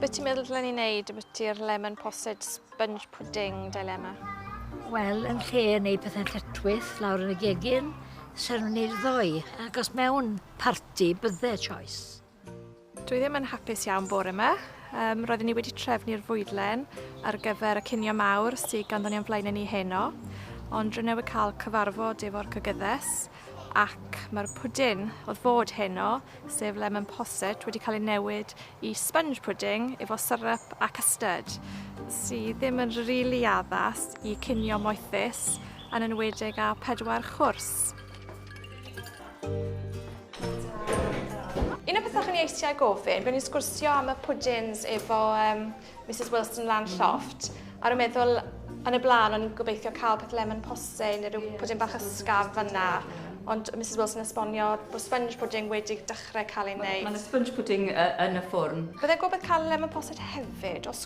Beth ti'n meddwl dylen ni wneud ambiti'r lemon posset sponge pudding dilemma? Wel, yn lle yn ei pethau lletwys lawr yn y gegin, sy'n nhw'n ei ddoi, ac os mewn parti, bydde choice. Dwi ddim yn hapus iawn bore yma. Um, roeddwn ni wedi trefnu'r fwydlen ar gyfer y cinio mawr sydd ganddon ni o'n flaen ni heno, ond rwy'n newydd cael cyfarfod efo'r cygyddes ac mae'r pwdin oedd fod heno, sef lemon posset, wedi cael ei newid i sponge pudding efo syrup a custard, sydd ddim yn rili really addas i cinio moethus yn enwedig â pedwar chwrs. Un o'r pethau o'n i eisiau gofyn, byddwn ni'n sgwrsio am y pwdins efo um, Mrs Wilson lan lloft, a rwy'n meddwl yn y blaen o'n i'n gobeithio cael peth lemon posse neu rhyw pwdin bach ysgaf fyna. Ond Mrs Wilson esbonio bod sponge pudding wedi dechrau cael ei wneud. Mae ma sponge pudding uh, yn y ffwrn. Byddai'n gwybod cael lemon posset hefyd, os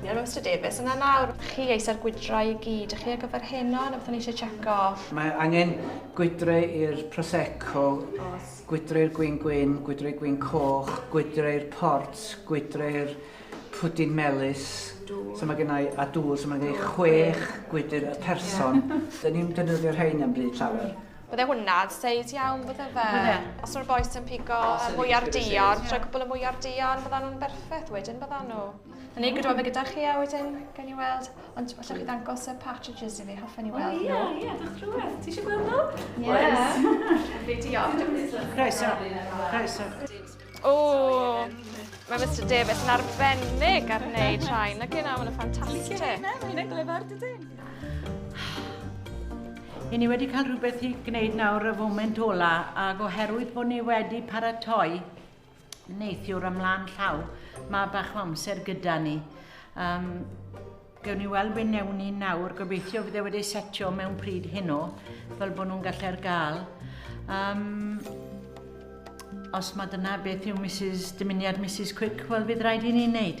Iawn Mister Davies, yna nawr, chi eisa'r gwydrau i gyd, chi ar gyfer heno, na beth o'n eisiau checo? Mae angen gwydrau i'r Prosecco, gwydrau'r gwyn gwyn, gwydrau'r gwyn coch, gwydrau'r port, gwydrau'r pwdin melus, so mae gennau a dŵr, so mae gennau chwech gwydr y person. Dyn ni'n defnyddio'r rhain am bryd llawer. Bydde hwnna, seis iawn bydde fe. Bydde. Os yw'r boes yn pigo mwyar dion, trwy cwbl y mwyar dion, bydda nhw'n berffeth wedyn, bydda nhw. Yn ei gydweddu gyda chi a wedyn gawn ni weld, ond allwch chi ddangos y partridges i fi, hoffwn i weld nhw. O ie, ie, dach rhywbeth. Ti eisiau gweld nhw? Ie. Oes. Fi diolch. Croeso. Croeso. O, mae Mr Davis yn arbennig ar wneud rhai. Na gyna, mae'n ffantastig. Ti'n cael mae hynny'n glyfar, dydyn? I ni wedi cael rhywbeth i gwneud nawr y foment ola, ac oherwydd bod ni wedi paratoi neithiwr ymlaen llaw, mae bach o amser gyda ni. Um, Gewn ni weld be newn ni nawr, gobeithio fydd e wedi setio mewn pryd hyn o, fel bod nhw'n gallu'r gael. Um, os mae dyna beth yw Mrs, dymuniad Mrs Quick, wel fydd rhaid i ni wneud.